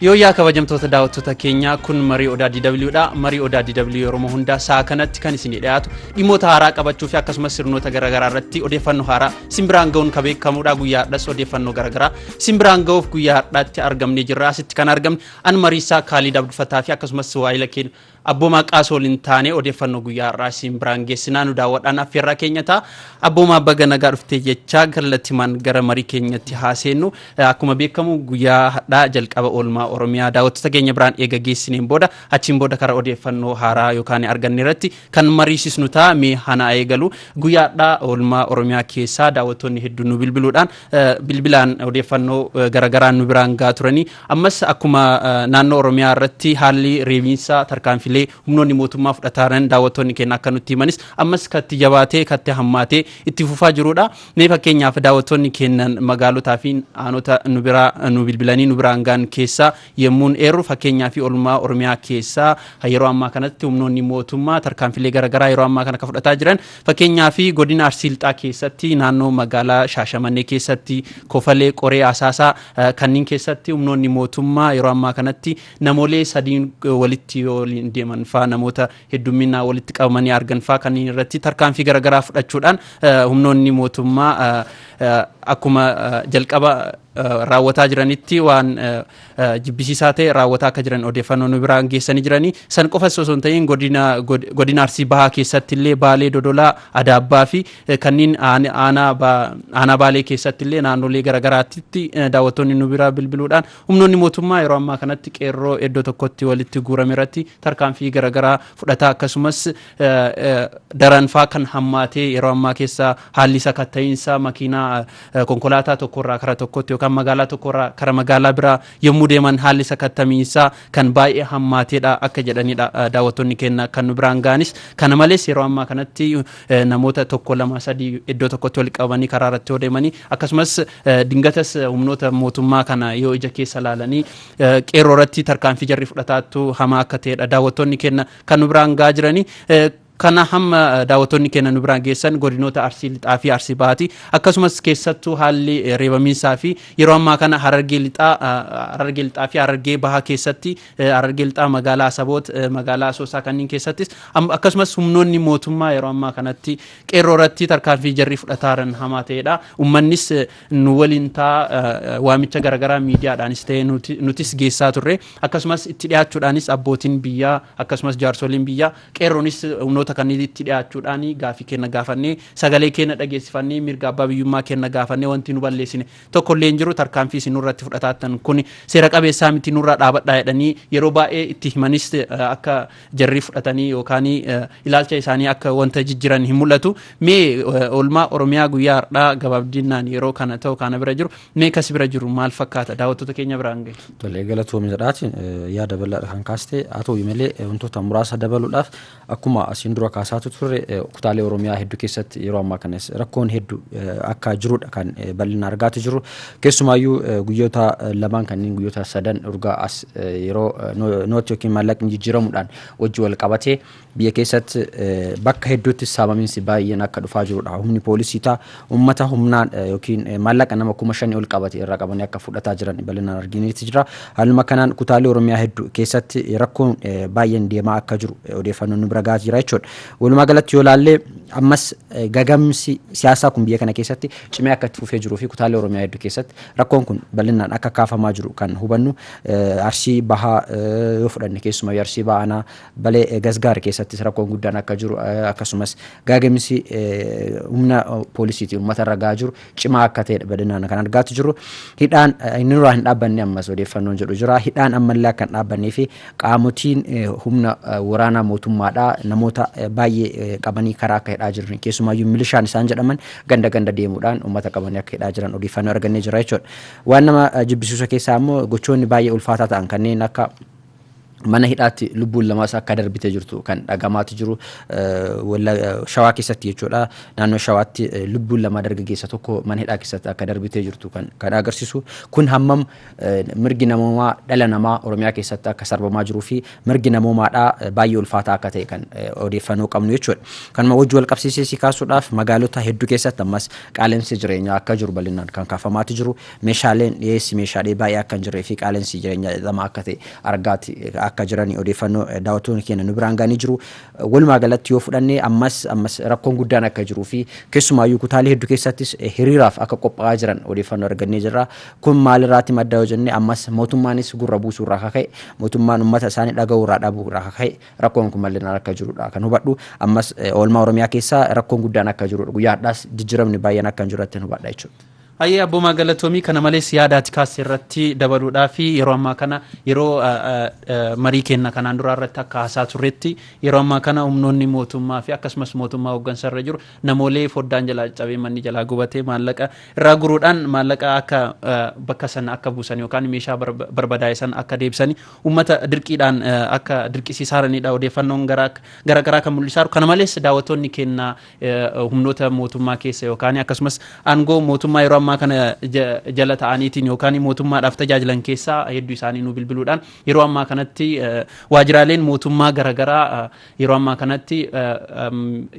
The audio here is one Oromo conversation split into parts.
Yooyyaa kabajamtoota daawwattoota keenyaa kun marii odaa DW dha. Marii odaa DW yeroo hundaa sa'a kanatti kan isinii dhiyaatu dhimmoota haaraa qabachuu fi akkasumas sirnoota garaagaraa irratti odeeffannoo haaraa simbiraan ga'uun kan beekamudha. Guyyaa har'as odeeffannoo garaagaraa simbiraan ga'uuf guyyaa har'aatti argamnee jirra. Asitti kan argamne an mariisaa Kaalid Abdufataa fi akkasumas waayila keenya Abboomaa Qaasa waliin taanee odeeffannoo guyyaa har'aa isin biraan geessinaa nu daawwadhaan affeerraa keenya ta'a. Abboomaa baga nagaa dhuftee jechaa kallatimaan gara marii keenyatti haa seennu. Akkuma beekamu guyyaa hadhaa jalqaba oolmaa Oromiyaa daawwattoota keenya biraan eega geessineen booda achiin booda karaa odeeffannoo haaraa yookaan arganne irratti kan mariisisnu ta'a mee hana eegalu. Guyyaa hadhaa oolmaa Oromiyaa keessaa daawwattoonni hedduun nu bilbiluudhaan bilbilaan odeeffannoo garagaraan nu biraan gaa turanii Ammas akkuma naannoo Oromiyaa irratti haalli reebiinsaa tarkaanfilee humnoonni mootummaa fudhataaran daawwattoonni keenya akka nutti himanis ammas katti jabaatee katti hammaatee itti fufaa jirudha. Mee fakkeenyaaf daawwattoonni keennan magaalotaa fi aanota nu biraa nu bilbilanii nu biraan gaan keessaa yemmuun eerru fakkeenyaa fi olmaa Oromiyaa keessaa kan yeroo ammaa kanatti humnoonni mootummaa tarkaanfilee garaagaraa yeroo ammaa kana akka fudhataa jiran Fakkeenyaaf godina Arsii Lixaa keessatti naannoo magaalaa Shaashamannee keessatti, Kofalee, Qoree, Asaasaa kanniin keessatti humnoonni mootummaa yeroo ammaa kanatti namoolee sadiin walitti yoo waliin deeman faa namoota heddumminaan walitti qabamanii argan faa kanniin irratti tarkaanfii garaagaraa fudhachuudhaan humnoonni mootummaa akkuma jalqaba raawwataa jiranitti waan jibbisiisaa ta'e raawwataa akka jiran odeeffannoo nu biraan geessanii jiranii san qofas osoo hin ta'in godina god- godina arsii bahaa keessatti illee baalee dodolaa adaabbaa fi eh, kanneen aan- aanaa ba- aanaa baalee keessatti illee naannolee garaagaraatti daawwattoonni nu biraa bilbiluudhaan humnoonni mootummaa yeroo ammaa kanatti qeerroo iddoo tokkotti walitti guurame irratti tarkaanfii garaagaraa fudhataa akkasumas eh, eh, daranfaa kan hammaatee yeroo ammaa keessa haalli sakatta'iinsa makiinaa konkolaataa tokko irraa kara tokkotti yookaan magaalaa tokko irraa kara magaalaa biraa yommuu deeman haalli sakattamiinsaa kan baay'ee hammaateedha akka jedhanidha daawwattoonni keenya kan nu biraan ga'anis. Kana malees yeroo ammaa kanatti namoota tokko lama sadii iddoo tokkotti wal qabanii karaa irratti yoo deemanii akkasumas dingatas humnoota mootummaa kana yoo ija keessa laalanii qeerroo irratti tarkaanfii jarri fudhataattu hamaa akka ta'edha daawwattoonni keenya kan nu biraan ga'aa jiranii. Kana hamma daawwattoonni keenya nu biraan geessan godinoota Arsii Lixaa fi Arsii Bahaati. Akkasumas keessattuu haalli reebamiinsaa fi yeroo ammaa kana Harargee Lixaa Harargee Lixaa fi Harargee Bahaa keessatti Harargee Lixaa magaalaa Asaboot magaalaa Asoosaa kanneen keessattis akkasumas humnoonni mootummaa yeroo ammaa kanatti qeerroo irratti tarkaanfii jarri fudhataa jiran hamaa ta'edha. Uummannis nu waliin ta'a waamicha garaagaraa miidiyaadhaanis ta'e nutis geessaa turre. Akkasumas itti dhiyaachuudhaanis abbootiin biyyaa akkasumas jaarsoliin biyyaa Qeerroonis humnoota kanniitti dhiyaachuudhaan gaaffii keenna gaafannee, sagalee keenna dhageessifannee, mirga abbaa biyyummaa keenna gaafannee wanti nu balleessine tokko illee hin jiru, tarkaanfii isin nurratti fudhataattan kuni seera qabeessaa miti nurraa dhaabadhaa jedhanii yeroo baay'ee itti himanis akka jarri fudhatanii yookaan ilaalcha isaanii akka wanta jijjiran hin mul'atu. Mee oolmaa Oromiyaa guyyaa hardhaa gabaabdinnaan yeroo kana ta'u kaana bira jiru Mee kasi bira jiru maal fakkaata daawwattoota keenya biraan gahe. Tole galatoomi jedhaati yaada bal'aadha kan kaaste haa ta'u malee wantoota muraasa dabaluudhaaf akkuma asiin dura kaasaatu turre kutaalee Oromiyaa hedduu keessatti yeroo ammaa kanas rakkoon hedduu akka jirudha kan bal'ina argaati jiru keessumaayyuu guyyoota lamaan kanneen guyyoota sadan urgaa as yeroo nooti yookiin maallaqni jijjiiramuudhaan wajji wal qabatee Biyya keessatti bakka hedduutti saamaminsi baay'een akka dhufaa jirudha. Humni poolisii taa uummata humnaan yookiin maallaqa nama kuma shanii ol qabate irraa qabanii akka fudhataa jiran bal'inaan argineeti jira. Haaluma kanaan kutaalee Oromiyaa hedduu keessatti rakkoon baay'een deemaa akka jiru odeeffannoon nu bira gahaa jira jechuudha. Walumaa galatti yoo ilaalle ammas gagamsi siyaasaa kun biyya kana keessatti cimee akka itti fufee jiruu fi kutaalee Oromiyaa hedduu keessatti rakkoon kun bal'inaan akka kaafamaa jiru kan hubannu Arsii Bahaa yoo fudhanne keessumaa Arsii Bahaa aanaa Balee Gasgaar keessattis rakkoon guddaan akka jiru akkasumas gaaga'insi humna poolisiitiin uummata irra gahaa jiru cimaa akka ta'edha bal'inaan kan argaatti jirru. Hidhaan inni irraa hin dhaabbanne ammas odeeffannoon jedhu jira. Hidhaan ammallee akka hin dhaabbannee fi qaamotiin humna waraanaa mootummaadhaa namoota baay'ee qabanii karaa akka hidhaa jiran keessumaayyuu milishaan isaan jedhaman ganda ganda deemuudhaan uummata qabanii akka hidhaa jiran odeeffannoo argannee jira jechuudha. Waan nama jibbisiisu keessaa ammoo gochoonni baay'ee ulfaataa ta'an kanneen akka mana hidhaatti lubbuun lamaas akka darbite jirtu kan dhagamaati jiru shawaa keessatti jechuudha naannoo shawaatti lubbuun lamaa dargaggeessa tokko mana hidhaa keessatti akka darbitee jirtu kan agarsiisu kun hammam mirgi namoomaa dhala namaa oromiyaa keessatti akka sarbamaa jiruu fi mirgi namoomaadhaa baay'ee ulfaataa akka ta'e kan odeeffannoo qabnu jechuudha kanuma wajji wal qabsiisee si kaasuudhaaf magaalota hedduu keessatti ammas qaala'insi jireenyaa akka jiru bal'inaan kan kaafamaati jiru Meeshaaleen dhiyeessi meeshaalee baay'ee akka hin jirree fi qaala'insi jireenyaa xaxamaa akka ta'e argaati akka jiranii odeeffannoo daawwattoonni keenya nu biraan ga'anii jiru. Walumaa galatti yoo fudhanne ammas ammas rakkoon guddaan akka jiruu fi keessumaayyuu kutaalee hedduu keessattis hiriiraaf akka qophaa'aa jiran odeeffannoo argannee jirra. Kun maalirraati madda yoo jenne ammas mootummaanis gurra buusuu irraa akka ka'e mootummaan uummata isaanii dhaga'uu irraa dhabuu irraa akka ka'e rakkoon kun bal'inaan akka jirudha kan hubadhu. Ammas oolmaa Oromiyaa keessa rakkoon guddaan akka jirudha. Guyyaa har'aas jijjiiramni baay'een akka hin jirre irratti hubadha jechuudha. Hayyee Abboomaa Galatoomii kana malees yaada ati kaaste irratti dabaluudhaaf yeroo ammaa kana yeroo marii keenna kanaan duraa irratti akka haasaa turretti yeroo ammaa kana humnoonni mootummaa fi akkasumas mootummaa hooggansa irra jiru namoolee foddaan jalaa cabee manni jalaa gubatee maallaqa irraa guruudhaan maallaqa akka bakka sana akka buusan yookaan meeshaa barbadaa'e sana akka deebisanii uummata dirqiidhaan akka dirqisiisaaraniidha odeeffannoon gara garaa kan mul'isaaru kana malees daawwattoonni keenna humnoota mootummaa keessa yookaan akkasumas aangoo mootummaa yeroo ammaa kana jala ta'aniitiin yookaan mootummaadhaaf tajaajilan keessaa hedduu isaanii nu bilbiluudhaan yeroo ammaa kanatti waajjiraaleen mootummaa garaagaraa yeroo ammaa kanatti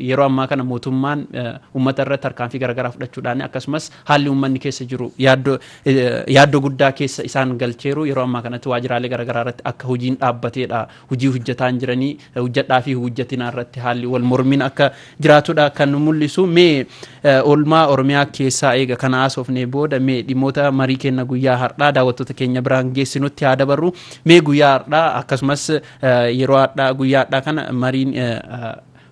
yeroo ammaa kana mootummaan uummata irratti tarkaanfii garaagaraa fudhachuudhaan akkasumas haalli uummanni keessa jiru yaaddoo guddaa keessa isaan galcheeru yeroo ammaa kanatti waajjiraalee garaagaraa irratti akka hojiin dhaabbateedha Hujii hujjataan jiranii hujjadhaa fi hujjatinaa irratti haalli wal mormiin akka jiraatudha kan mul'isu. Mee oolmaa Oromiyaa keessaa eega kana haasofnee booda mee dhimmoota marii kenna guyyaa har'aa daawwattoota keenya biraan geessinutti haa dabarru. Mee guyyaa har'aa akkasumas yeroo har'aa guyyaa har'aa kana mariin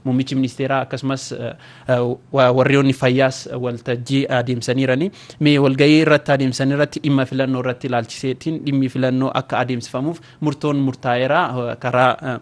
Muummichi ministeeraa akkasumas warriyoonni fayyaas waltajjii adeemsaniirani. Mee walgahii irratti adeemsan irratti dhimma filannoo irratti ilaalchiseetiin dhimmi filannoo akka adeemsifamuuf murtoon murtaa'eera karaa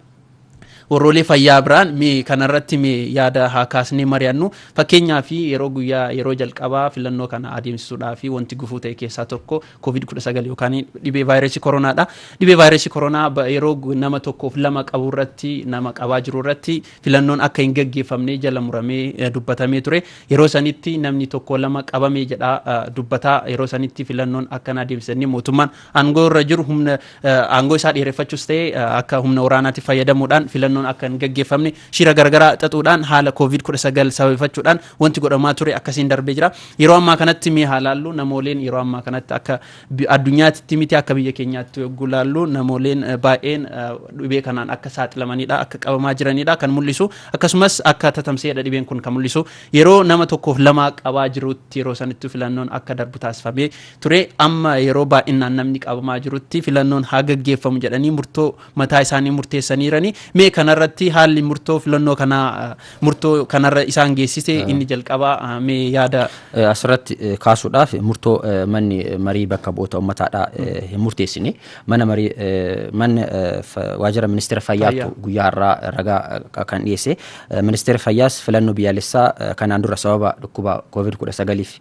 warroolee fayyaa biraan mee kanarratti mee yaada haa kaasnee mari'annu fakkeenyaa fi yeroo guyyaa yeroo jalqabaa filannoo kana adeemsisuudhaa fi wanti gufuu ta'e keessaa tokko Covid 19 yookaan dhibee vaayirasii koronaadha. Dhibee vaayirasii koronaa ba- yeroo gu- nama tokkoof lama qabu irratti nama qabaa jiru irratti filannoon akka hin gaggeeffamne jala muramee eh, dubbatamee ture. Yeroo sanitti namni tokko lama qabamee jedha eh, dubbataa yeroo sanitti filannoon akka na deebisanii mootummaan aangoo irra jiru humna eh, aangoo isaa dheereffachuus ta'e eh, akka humna waraanaatti fayyadamuudhaan filannoon akka hin gaggeeffamne shira garagaraa xaxuudhaan haala Covid 19 sababeeffachuudhaan Wanti godhamaa ture akkasiin darbee jira. Yeroo ammaa kanatti mee haa laallu namooleen yeroo ammaa kanatti akka bi- addunyaatti miti akka biyya keenyaatti yogguu laallu namooleen eh, baay'een eh, dhibee kanaan akka saaxilamanidha akka qabamaa jiranidha kan mul'isu akkasumas akka tatamsa'edha dhibeen kun kan mul'isu yeroo nama tokkoof lama qabaa jirutti yeroo sanatti filannoon akka darbu taasifamee ture amma yeroo baay'inaan namni qabamaa jirutti filannoon haa gaggeeffamu jedhanii murtoo mataa isaanii murteessaniirani mee kanarratti haalli murtoo filannoo kanaa eh, Murtoo kanarra isaan geessise inni jalqabaa ah, mee yaada Eh, asirratti eh, kaasuudhaaf murtoo eh, manni eh, marii bakka bu'oota ummataadhaa eh, hin murteessine mana marii eh, manni eh, fa- waajjira ministeera Fayyaa. fayyaatu guyyaa har'aa ragaa eh, kan dhiyeesse Eh, ministeera fayyaas filannoo biyyaalessaa eh, kanaan dura sababa dhukkuba covid 19f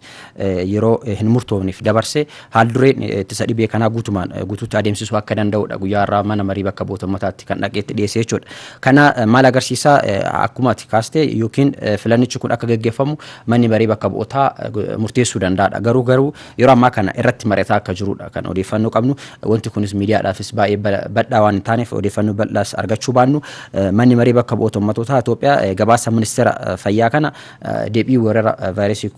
yeroo hin murtoofneef dabarse haaldureen ittisa dhibee kanaa guutumaan guutuutti adeemsisuu akka danda'udha guyyaa irraa mana marii bakka bu'oota ummataatti kan dhaqeetti dhiyeessee jechuudha. Kana maal agarsiisa akkuma ati kaaste yookiin filannichi kun akka gaggeeffamu manni marii bakka bu'ootaa murteessuu danda'adha. Garuu garuu yeroo ammaa kana irratti mari'ataa akka jirudha kan odeeffannoo qabnu. Wanti kunis miidiyaadhaafis baay'ee bal'aa waan hin taaneef odeeffannoo bal'aas argachuu baannu manni marii bakka bu'oota ummatootaa Itoophiyaa gabaasa ministeera fayyaa kana Deebii weerara vaayirasii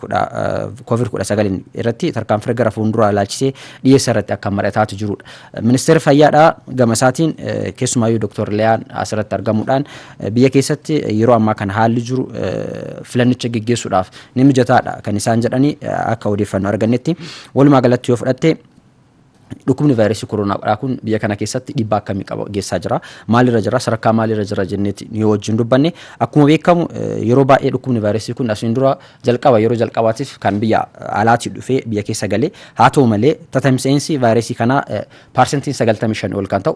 covid 19 irratti tarkaanfii gara fuulduraa ilaalchisee dhiyeessa irratti akka mari'ataatu jirudha. Ministeerri fayyaadhaa gama isaatiin keessumaayyuu Dr. Liyaan asirratti argamuudhaan biyya keessatti yeroo ammaa kana haalli jiru filannicha geggeessuudhaaf ni mijataadha kan isaan jedhanii akka odeeffannoo argannetti walumaa galatti yoo fudhatte Dhukkubni vaayirasii koroonaa dhaa kun biyya kana keessatti dhiibbaa akkamii qaba geessaa jira? Maalirra jira? Sadarkaa maalirra jira jenneeti nu yoo wajjin dubbanne akkuma beekamu eh, yeroo baay'ee dhukkubni vaayirasii kun asiin dura jalqaba yeroo jalqabaatiif kan biyya alaatii dhufee biyya keessa galee haa ta'u malee tatamsa'insi vaayirasii kanaa eh, paarsentiin 95 ol kan ta'u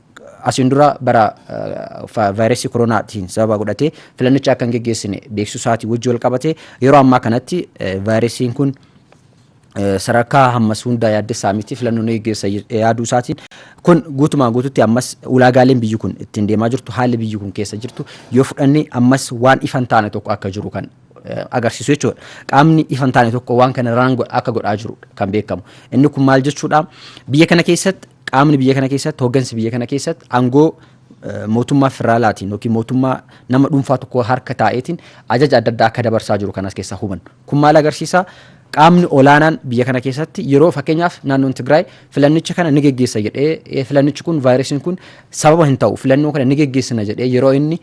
Asiin dura bara vaayirasii koroonaatiin sababa godhatee filannicha akka hin geggeessine beeksisuu isaatii wajji wal qabatee yeroo ammaa kanatti vaayirasiin kun sadarkaa hammas hundaa yaaddessaa miti filannoo ni geggeessa yaaduu isaatiin kun guutumaan guututti ammas ulaagaaleen biyyi kun ittiin deemaa jirtu haalli biyyi kun keessa jirtu yoo fudhanne ammas waan ifan taane tokko akka jiru kan agarsiisu jechuudha. Qaamni ifan taane tokko waan kana raanga akka godhaa jiru kan beekamu. Inni kun maal jechuudha? Biyya kana keessatti Qaamni biyya kana keessatti hoggansi biyya kana keessatti aangoo mootummaa federaalaatiin yookiin mootummaa nama dhuunfaa tokko harka taa'eetiin ajaja adda addaa akka dabarsaa jiru kanas keessaa hubannu. Kun maal agarsiisa? Qaamni olaanaan biyya kana keessatti yeroo fakkeenyaaf naannoon Tigraay filannicha kana ni geggeessa jedhee filannichi kun vaayirasiin kun sababa hin ta'u filannoo kana ni geggeessina jedhee yeroo inni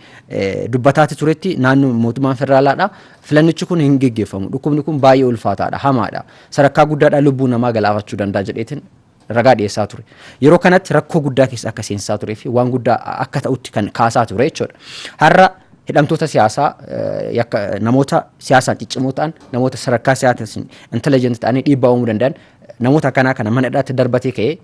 dubbataatti turetti naannoo mootummaan federaalaadha filannichi kun hin geggeeffamu dhukkubni kun baay'ee ulfaataadha hamaadha sadarkaa guddaadha lubbuu namaa galaafachuu danda'a jedheetiin ragaa dhiyeessaa ture. Yeroo kanatti rakkoo guddaa keessa akka seensaa turee fi waan guddaa akka ta'utti kan kaasaa ture jechuudha. Har'a hidhamtoota siyaasaa namoota siyaasaan ciccimoo ta'an namoota sadarkaa siyaasaan intelligent ta'anii dhiibbaa uumuu danda'an namoota akkanaa kana mana hidhaatti darbatee ka'ee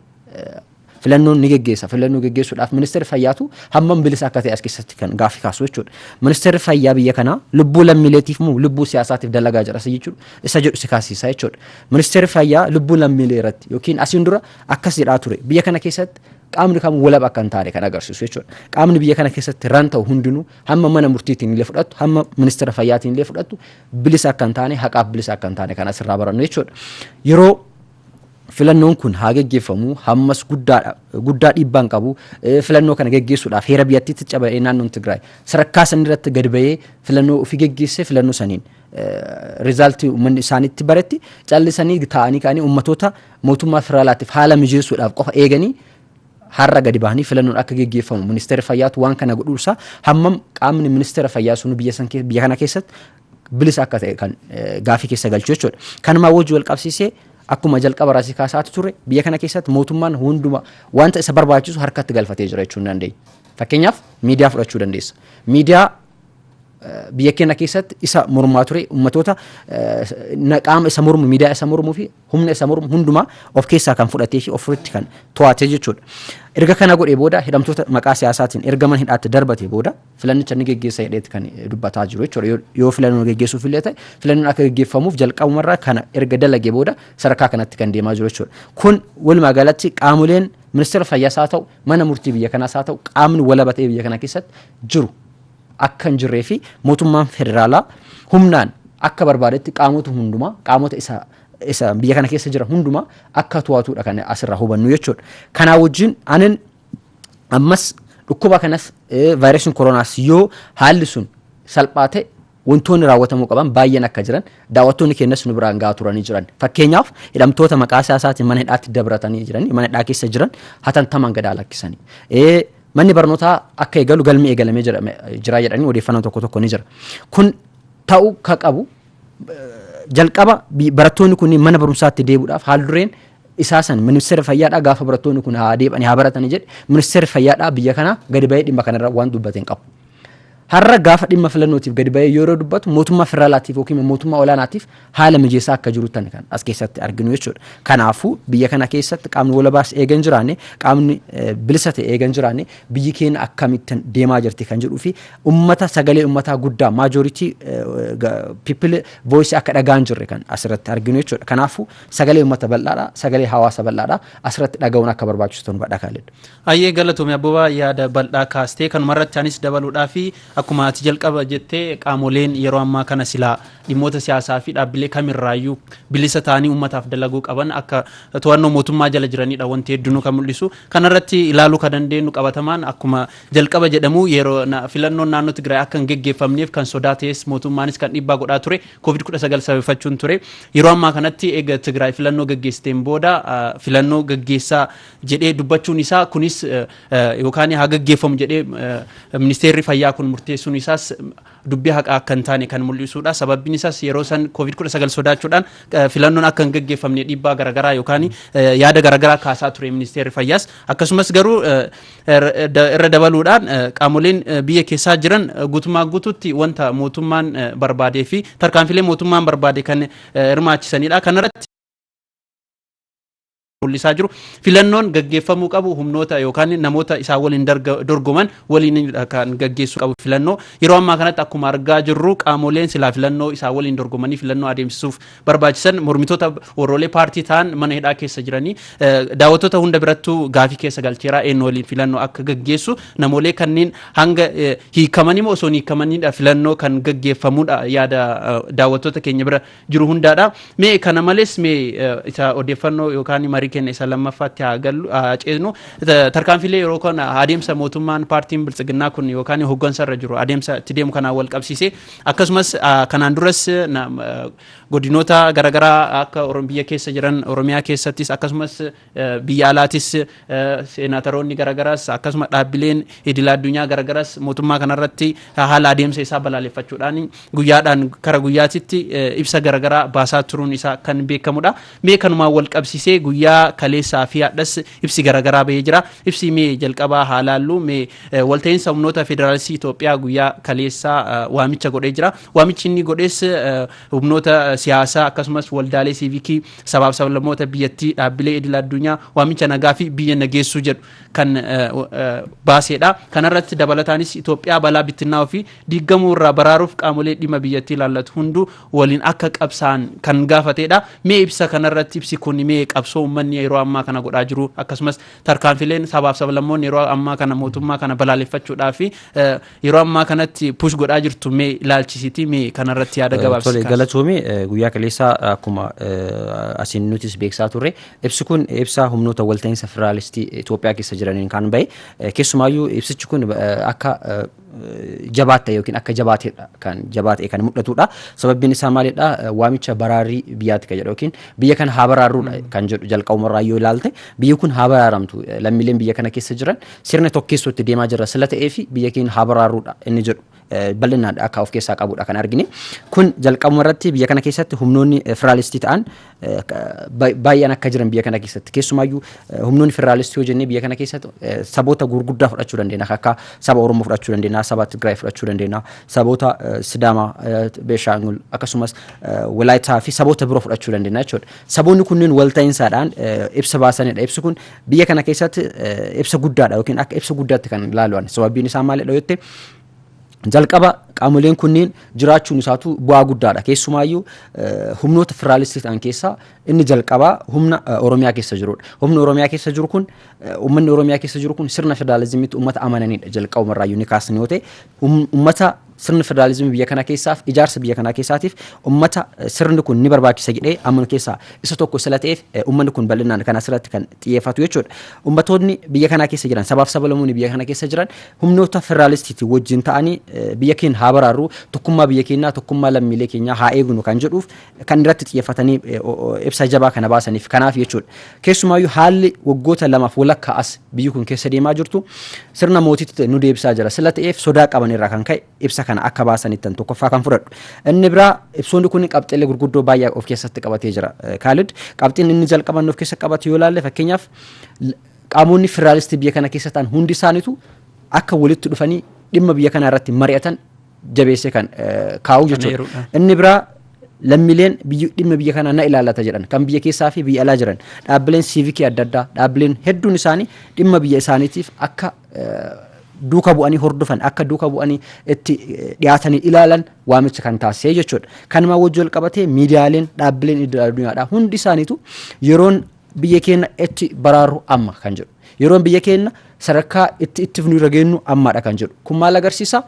filannoon ni geggeessa. Filannoo geggeessuudhaaf ministeerri fayyaatu hammam bilisa akka ta'e as keessatti kan gaaffii kaasu jechuudha. Ministeerri fayyaa biyya kanaa lubbuu lammiileetiif moo lubbuu siyaasaatiif dalagaa jira isa jechuudha. Isa jedhu si kaasisaa jechuudha. Ministeerri Fayyaa lubbuu lammiilee irratti yookiin asiin dura akkas jedhaa ture biyya kana keessatti qaamni kamuu walaba akka hin taane kan agarsiisu jechuudha. Qaamni biyya kana keessatti ran ta'u hundinuu hamma mana murtiitiin illee fudhattu hamma ministeera fayyaatiin illee fudhattu bilisa akka hin taane haqaaf bilisa akka hin taane kan asirraa barannu jechuudha. Yeroo filannoon kun haa geggeeffamu hammas guddaadha guddaa dhiibbaan qabu filannoo kana geggeessuudhaaf heera biyyattiitti caba'ee naannoon Tigraay sadarkaa sanirratti gad ba'ee filannoo ofii geggeessee filannoo saniin rizaaltii uummanni isaanitti baretti callisanii taa'anii ka'anii uummatoota mootummaa federaalaatiif haala mijeessuudhaaf qofa eeganii har'a gadi bahanii filannoon akka geggeeffamu ministeera fayyaatu waan kana godhuusaa hammam qaamni ministeera fayyaa sunu biyya san kee- biyya kana keessatti bilisa akka ta'e kan eh, gaafii keessa galchu jechuudha. Kanumaa wajji wal qabsiisee akkuma jalqaba irraa si kaasaatu ture biyya kana keessatti mootummaan hunduma wanta isa barbaachisu harkatti galfatee jira jechuun dandeenya. Fakkeenyaaf miidiyaa fudhachuu dandeessa. Miidiyaa biyya keenya keessatti isa mormaa ture ummatoota qaama isa mormu miidiyaa isa mormuu fi humna isa mormu hundumaa of keessaa kan fudhatee fi ofirratti kan to'ate jechuudha. Erga kana godhee booda hidhamtoota maqaa siyaasaatiin erga mana hidhaatti darbate booda filannicha ni geggeessa jedheetti kan dubbataa jiru jechuudha. Yoo filannoo geggeessuuf illee ta'e filannoon akka geggeeffamuuf jalqabumarraa kana erga dalagee booda sadarkaa kanatti kan deemaa jiru jechuudha. Kun walumaa galatti qaamoleen ministeera fayyaas haa ta'u mana murtii biyya kanaas haa ta'u qaamni walaba ta'e biyya kana keessatti jiru akka hin jirree fi mootummaan federaalaa humnaan akka barbaadetti qaamota hundumaa qaamota isa isa biyya kana keessa jira hundumaa akka to'atuudha kan asirraa hubannu jechuudha. Kanaa wajjin anin ammas dhukkuba kanas vaayirasiin koronaas yoo haalli sun salphaa ta'e wantoonni raawwatamuu qaban baay'een akka jiran daawwattoonni keenyas nu biraan gahaa turanii jiran fakkeenyaaf hidhamtoota maqaa siyaasaatiin mana hidhaatti dabratanii jiran mana hidhaa keessa jiran hatantamaan gadaa lakkisanii Manni barnootaa akka eegalu galmi eegalamee jira jira jedhanii odeeffannoon tokko tokko ni jira. Kun ta'uu ka qabu jalqaba bi- barattoonni kunniin mana barumsaatti deebi'uudhaaf haal dureen isaa san ministeera fayyaadhaa gaafa barattoonni kun haa deebi'anii haa baratanii jedhe ministeerri fayyaadhaa biyya kanaa gadi ba'ee dhimma kanarra waan dubbate hin qabu. Har'a gaafa dhimma filannootiif gadi ba'ee yeroo dubbatu mootummaa federaalaatiif yookiin immoo mootummaa olaanaatiif haala mijeessaa akka jiruttani kan as keessatti arginu jechuudha. Kanaafuu biyya kana keessatti qaamni walabaas eega hin jiraanne, qaamni eh, bilisa ta'e eega hin jiraanne biyyi keenya akkamittan deemaa jirti kan jedhuu fi ummata sagalee ummataa guddaa maajoritii people voice akka dhagaa hin jirre kan asirratti arginu jechuudha. Kanaafuu sagalee ummata bal'aadha, sagalee hawaasa bal'aadha asirratti dhaga'uun akka barbaachisu ta'uu hubadha Kaalid. Hayyee galatoomi Abbabaa yaada bal'aa kaastee kanuma irratti anis dabaluudhaaf akkuma ati jalqaba jette qaamoleen yeroo ammaa kana silaa dhimmoota siyaasaa fi dhaabbilee kamirraayyuu bilisa ta'anii uummataaf dalaguu qaban akka to'annoo mootummaa jala jiranidha wanti heddunuu kan mul'isu. Kanarratti ilaaluu kan dandeenyu qabatamaan akkuma jalqaba jedhamu yeroo filannoon naannoo Tigraay akka hin geggeeffamneef kan sodaa ta'es mootummaanis kan dhiibbaa godhaa ture covid 19 sababeeffachuun ture. Yeroo ammaa kanatti eega Tigraay filannoo gaggeessiteen booda filannoo gaggeessaa jedhee dubbachuun isaa kunis yookaan haa gaggeeffamu jedhee ministeerri fayyaa kun murteessuun isaas dubbii haqaa akka hin taane kan mul'isuudha. Sababbiin isaas yeroo san COVID-19 sodaachuudhaan filannoon akka hin gaggeeffamne dhiibbaa garaagaraa yookaan yaada garaagaraa kaasaa ture ministeerri fayyaas. Akkasumas garuu irra dabaluudhaan qaamoleen biyya keessaa jiran guutummaa guutuutti wanta mootummaan barbaadee fi tarkaanfilee mootummaan barbaade kan hirmaachisanidha. Kanarratti mul'isaa jiru. Filannoon gaggeeffamuu qabu humnoota yookaan namoota isaa waliin dorgoman waliin kan gaggeessuu qabu filannoo. Yeroo ammaa kanatti akkuma argaa jirru qaamoleen silaa filannoo isaa waliin dorgomanii filannoo adeemsisuuf barbaachisan mormitoota warroolee paartii ta'an mana hidhaa keessa jiranii daawwattoota hunda birattuu gaafii keessa galcheeraa eenyu waliin filannoo akka gaggeessu namoolee kanneen hanga hiikamanii moo osoo hin hiikamaniidha filannoo kan gaggeeffamudha yaada daawwattoota keenya bira jiru hundaadha. Mee kana malees mee isa odeeffannoo yookaan marii keenya isa lammaffaatti haa gallu haa ceesnu. Tarkaanfiilee yeroo kana adeemsa mootummaan paartiin biltsiginnaa kun yookaan hooggansa irra jiru adeemsa itti deemu kanaan wal qabsiisee akkasumas kanaan duras godinoota garaagaraa akka biyya keessa jiran Oromiyaa keessattis akkasumas Biyya alaatis seenaataroonni garagaraas akkasuma dhaabbileen idila addunyaa garagaraas mootummaa kanarratti haala adeemsa isaa balaaleffachuudhaan guyyaadhaan kara guyyaatitti ibsa garagaraa baasaa turuun isaa kan beekamudha. Mee kanumaan wal qabsisee guyyaa kaleessaa fi hadhas ibsi garagaraa bahee jira. Ibsi mee jalqabaa haa laallu mee walta'iinsa humnoota federaalistii Itoophiyaa guyyaa kaleessaa waamicha godhee jira. Waamichi inni godhes humnoota siyaasaa akkasumas waldaalee siivikii Sabaaf sablammoota biyyattii dhaabbilee idil addunyaa waamicha nagaa fi biyya nageessuu jedhu kan baaseedha. Kanarratti dabalataanis Itoophiyaa balaa bittinnaa'uu fi diiggamuu irraa baraaruuf qaamolee dhimma biyyattii ilaallatu hunduu waliin akka qabsaa'an kan gaafateedha. Mee ibsa kanarratti ibsi kun mee qabsoo uummanni yeroo ammaa kana godhaa jiru akkasumas tarkaanfileen sabaaf sablammoonni yeroo ammaa kana mootummaa kana balaaleffachuudhaa fi Yeroo ammaa kanatti push godhaa jirtu mee ilaalchisiitii mee kanarratti yaada gabaabsi Tole kaasa. galatoomii eh, guyyaa kaleessaa akkuma eh, asiin nutis beeksisaa turre ibsi kun ibsaa humnoota walta'iinsa federaalistii Itoophiyaa keessa jiraniin kan ba'e Eh, keessumaayyuu ibsichi kun eh, akka eh, jabaatte yookiin akka jabaatedha kan jabaate kan mul'atudha sababiin isaa maalidha Eh, waamicha baraarii biyyaatti kan jedhu yookiin biyya kana haa baraarruudha kan jedhu jalqabumarraa yoo ilaalte biyyi kun haa baraaramtu Eh, lammiileen biyya kana keessa jiran sirna tokkeessuu itti deemaa jirra sila ta'ee fi biyya keenya haa baraarruudha inni jedhu bal'inaan akka of keessaa qabudha kan argine. Kun jalqabuma irratti biyya kana keessatti humnoonni federaalistii ta'an baay'een akka jiran biyya kana keessatti keessumaayyuu humnoonni federaalistii yoo jennee biyya kana keessatti saboota gurguddaa fudhachuu dandeenya akka saba Oromoo fudhachuu dandeenya saba Tigraay fudhachuu dandeenya saboota Sidaamaa Beeshaangul akkasumas Walaayitaa fi saboota biroo fudhachuu dandeenya jechuudha. Saboonni kunneen walta'iinsaadhaan ibsa baasanidha. Ibsi kun Biyya kana keessatti ibsa guddaadha yookiin akka ibsa guddaatti kan ilaalu'an sababiin isaa maalidha yoo jette jalqaba qaamoleen kunniin jiraachuun isaatu bu'aa guddaadha keessumaayyuu humnoota federaalistii ta'an keessaa inni jalqabaa humna oromiyaa keessa jirudha humni oromiyaa keessa jiru kun ummanni oromiyaa keessa jiru kun sirna federaalizimiitti ummata amananidha jalqabumarraa yuuni kaasni yoo ta'e ummata Sirna federaalizimii biyya kana keessaaf ijaarsa biyya kanaa keessaatiif ummata sirni kun ni barbaachisa jedhee amanu keessaa isa tokko sila ta'eef ummanni kun bal'inaan kan asirratti kan xiyyeeffatu jechuudha. Ummatoonni biyya kanaa keessa jiran sabaaf sabalamoonni biyya kana keessa jiran humnoota federaalistiitiin wajjin ta'anii biyya keenya haa baraarru tokkummaa biyya keenyaa tokkummaa lammiilee keenyaa haa eegnu kan jedhuuf kan irratti xiyyeeffatanii ibsa jabaa kana baasaniif kanaaf jechuudha. Keessumaayyuu haalli waggoota lamaaf walakkaa as biyyi kun keessa deemaa jirtu sirna mootiitti nu deebisaa jira. Sila ta'eef sodaa qaban irraa kan ka'e ibsa kana akka baasanittan tokkoffaa kan fudhadhu. Inni biraa ibsoonni kun qabxiilee gurguddoo baay'ee of keessatti qabatee jira. Kaalid qabxiin inni jalqaban of keessa qabate yoo ilaalle fakkeenyaaf qaamonni federaalistii biyya kana keessa ta'an hundi isaaniitu akka walitti dhufanii dhimma biyya kanaa irratti mari'atan jabeessee kan kaa'u jechuudha. Inni biraa lammiileen dhimma biyya kanaa na ilaallata jedhan kan biyya keessaa fi biyya alaa jiran dhaabbileen siivikii adda addaa dhaabbileen hedduun isaanii dhimma biyya isaaniitiif akka duuka bu'anii hordofan akka duuka bu'anii itti dhiyaatanii ilaalan waamicha kan taasisee jechuudha. Kanumaa wajjin wal qabatee miidiyaaleen dhaabbileen idil addunyaadhaa hundi isaaniitu yeroon biyya keenya itti baraarru amma kan jedhu. Yeroon biyya keenna sadarkaa itti itti fufnu irra geennu ammaadha kan jedhu. Kun maal agarsiisa?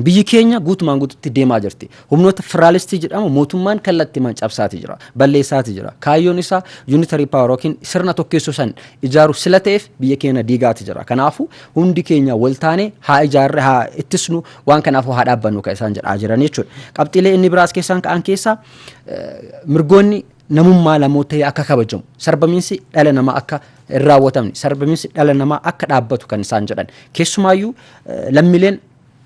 Biyyi keenya guutumaan guututti deemaa jirti. Humnoota firaalistii jedhamu mootummaan kallattiimaan cabsaati jira. Balleessaati jira. Kaayyoon isaa unitary power yookiin sirna tokkeessuu san ijaaru sila ta'eef biyya keenya diigaati jira. Kanaafu hundi keenya wal taanee haa ijaarre haa ittisnu waan kanaafu haa dhaabbannu kan isaan jedhaa jiran jechuudha. Qabxiilee inni biraas keessaan ka'an keessaa mirgoonni namummaa lamootee akka kabajamu sarbamiinsi dhala namaa akka hin raawwatamne sarbamiinsi dhala namaa akka dhaabbatu kan isaan jedhan keessumaayyuu lammileen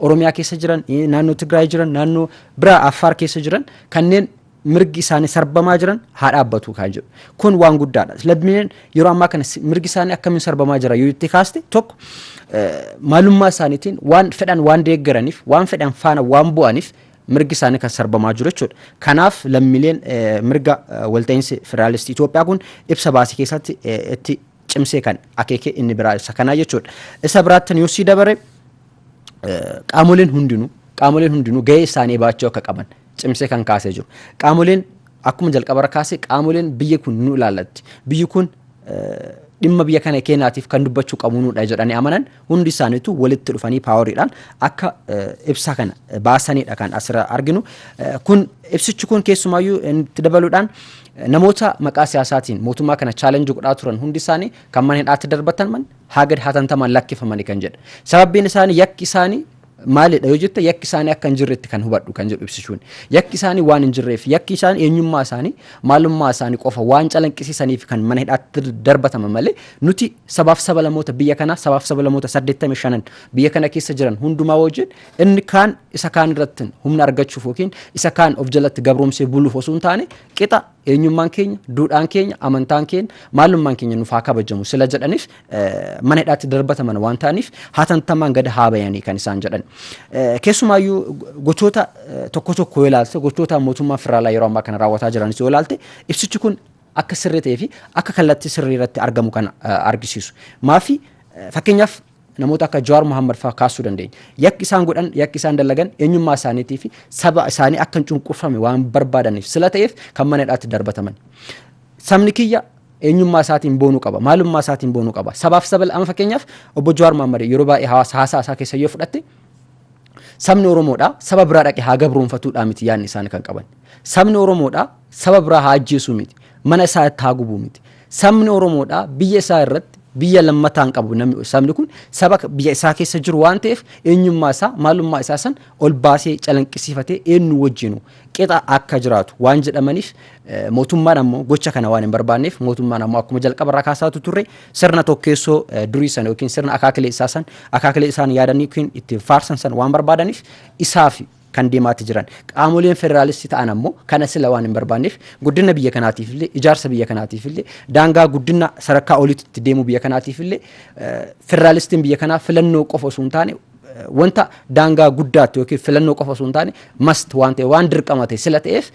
oromiyaa keessa jiran naannoo tigraay jiran naannoo biraa affaar keessa jiran kanneen mirgi isaanii sarbamaa jiran haa dhaabbatu kan jedhu kun waan guddaadha lammileen yeroo ammaa kana mirgi isaanii akkamiin sarbamaa jira yoo itti kaaste tokko maalummaa isaaniitiin waan fedhan waan deeggaraniif waan fedhan faana waan bu'aniif mirgi isaanii kan sarbamaa jiru jechuudha. Kanaaf lammiileen mirga walta'iinsi federaalistii Itoophiyaa kun ibsa baasii keessatti itti cimsee kan akeeke inni biraa isa kanaa jechuudha. Isa biraatti yoo sii dabare qaamoleen hundinuu qaamoleen hundinuu gahee isaanii baachuu akka qaban cimsee kan kaasee jiru. Qaamoleen Akkuma jalqabarra kaase qaamoleen biyyi kun nu ilaallatti. Biyyi kun dhimma biyya kana keenyaatiif kan dubbachuu qabnuudha jedhanii amanan hundi isaaniitu walitti dhufanii paawariidhaan akka ibsa kana baasaniidha kan asirra arginu. Kun ibsichi kun keessumaayyuu itti dabaluudhaan namoota maqaa siyaasaatiin mootummaa kana chaalenjii godhaa turan hundi isaanii kan mana hidhaatti darbataman haa gad hatantamaan lakkifamanii kan jedhe. Sababbiin isaanii yakki isaanii Maalidha yoo jette yakki isaanii akka hin jirretti kan hubadhu kan jedhu ibsishuun. Yakki isaanii waan hin jirreef yakki isaanii eenyummaa isaanii maalummaa isaanii qofa waan calanqisiisaniif kan mana hidhaatti darbataman malee nuti sabaaf sabalamoota biyya kanaa sabaaf sabalamoota 85 biyya kana keessa jiran hundumaa wajjin inni kaan isa kaan irratti humna argachuuf yookiin isa kaan of jalatti gabroomsee buluuf osoo hin taane qixa Eenyummaan keenya, duudhaan keenya, amantaan keenya, maalummaan keenya nuuf haa kabajamu sila jedhanis mana hidhaatti darbataman waan ta'aniif hatattamaan gad haa bayanii kan isaan jedhan. Keessumaayyuu gochoota tokko tokko yoo ilaalte gochoota mootummaa federaalaa yeroo ammaa kana raawwataa jiranis yoo ilaalte ibsichi kun akka sirrii ta'ee fi akka kallattii sirrii irratti argamu kan argisiisu. Maafi fakkeenyaaf Namoota akka Jawaar Mohammad faa kaassuu dandeenya. Yakki isaan godhan, yakki isaan dalagan eenyummaa isaaniitii fi saba isaanii akka hin cunqurfame waan barbaadaniif sila ta'eef kan mana hidhaatti darbataman. Sabni kiyya eenyummaa isaatiin boonuu qaba. Maalummaa isaatiin boonuu qaba. Sabaaf sabal amma fakkeenyaaf obbo Jawaar Mohammad yeroo baay'ee hawaasa haasaa isaa keessa yoo fudhatte Sabni Oromoodha saba biraa dhaqe haa gabroonfatuudhaa miti yaadni isaan kan qaban. Sabni Oromoodha saba biraa haa ajjeesuu miti. Mana isaa itti haa gubuu miti. Sabni Oromoodha biyya isaa irratti biyya lammataan qabu namni sabni kun saba biyya isaa keessa jiru waan ta'eef eenyummaa isaa maalummaa isaa san ol baasee calanqisiifatee eenyu wajjinu qixa akka jiraatu waan jedhamaniif mootummaan ammoo gocha kana waan hin barbaanneef mootummaan ammoo akkuma jalqaba irraa kaasaatu turre sirna tokkeessoo durii sana yookiin sirna akaakilee isaa san akaakilee isaan yaadan yookiin ittiin faarsan san waan barbaadaniif isaaf kan deemaati jiran qaamoleen federaalistii ta'an ammoo kana sila waan hin barbaanneef guddina biyya kanaatiif illee ijaarsa biyya kanaatiif illee daangaa guddina sadarkaa olitti deemuu biyya kanaatiif illee federaalistiin biyya kanaa filannoo qofa osoo hin taane wanta daangaa guddaatti yookiin filannoo qofa osoo hin taane must waan ta'e waan dirqama ta'e sila ta'eef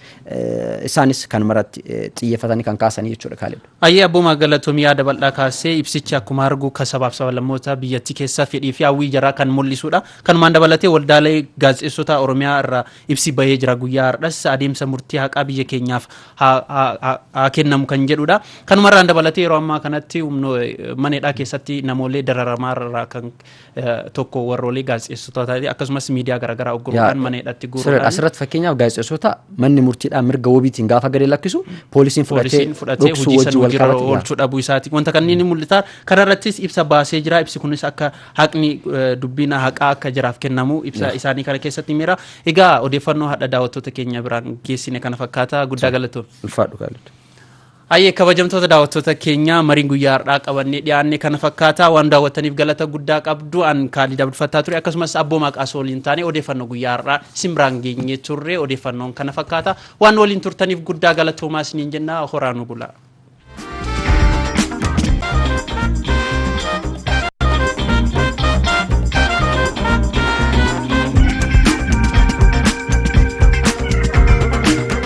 isaanis kan maratti xiyyeeffatanii kan kaasanii jechuudha kaalidha. Ayyee abboomaa galatoomii yaada bal'aa kaasee ibsichi akkuma argu kan sabaaf sabalammoota biyyattii keessaa fedhii fi hawwii jaraa kan mul'isudha. Kanumaan dabalatee waldaalee gaazexeessota Oromiyaa irraa ibsi bahee jira guyyaa har'as adeemsa murtii haqaa biyya keenyaaf haa kennamu kan jedhudha. Kanumarraan dabalatee yeroo ammaa kanatti mana hidhaa keessatti namoolee dararamaa irraa kan tokko warroolii gaazexeessitootaati akkasumas miidiyaa garaagaraa ugguruudhaan mana hidhatti guuruudhaan. Asirratti fakkeenyaaf gaazexeessitoota manni murtiidhaa mirga wabiitiin gaafa gadi lakkisu poolisiin fudhatee dhoksuu wajjin wal qabate. oolchuu dhabuu isaati wanta kanneen ni mul'ata kanarrattis ibsa baasee jira ibsi kunis akka haqni dubbiin haqaa akka jiraaf kennamu ibsa isaanii kana keessatti miira egaa odeeffannoo hadha daawwattoota keenya biraan geessine kana fakkaata guddaa galatoom. Ulfaadhu gaalaadha. Hayyee kabajamtoota daawwattoota keenyaa mariin guyyaa har'aa qabannee dhiyaanne kana fakkaata waan daawwattaniif galata guddaa qabdu an kaalid abdulfattaa ture akkasumas abboomaa qaasoo waliin taane odeeffannoo guyyaa har'aa isin biraan geenyee turre odeeffannoon kana fakkaata waan waliin turtaniif guddaa galatoomaa isiniin jennaa horaa nu bulaa.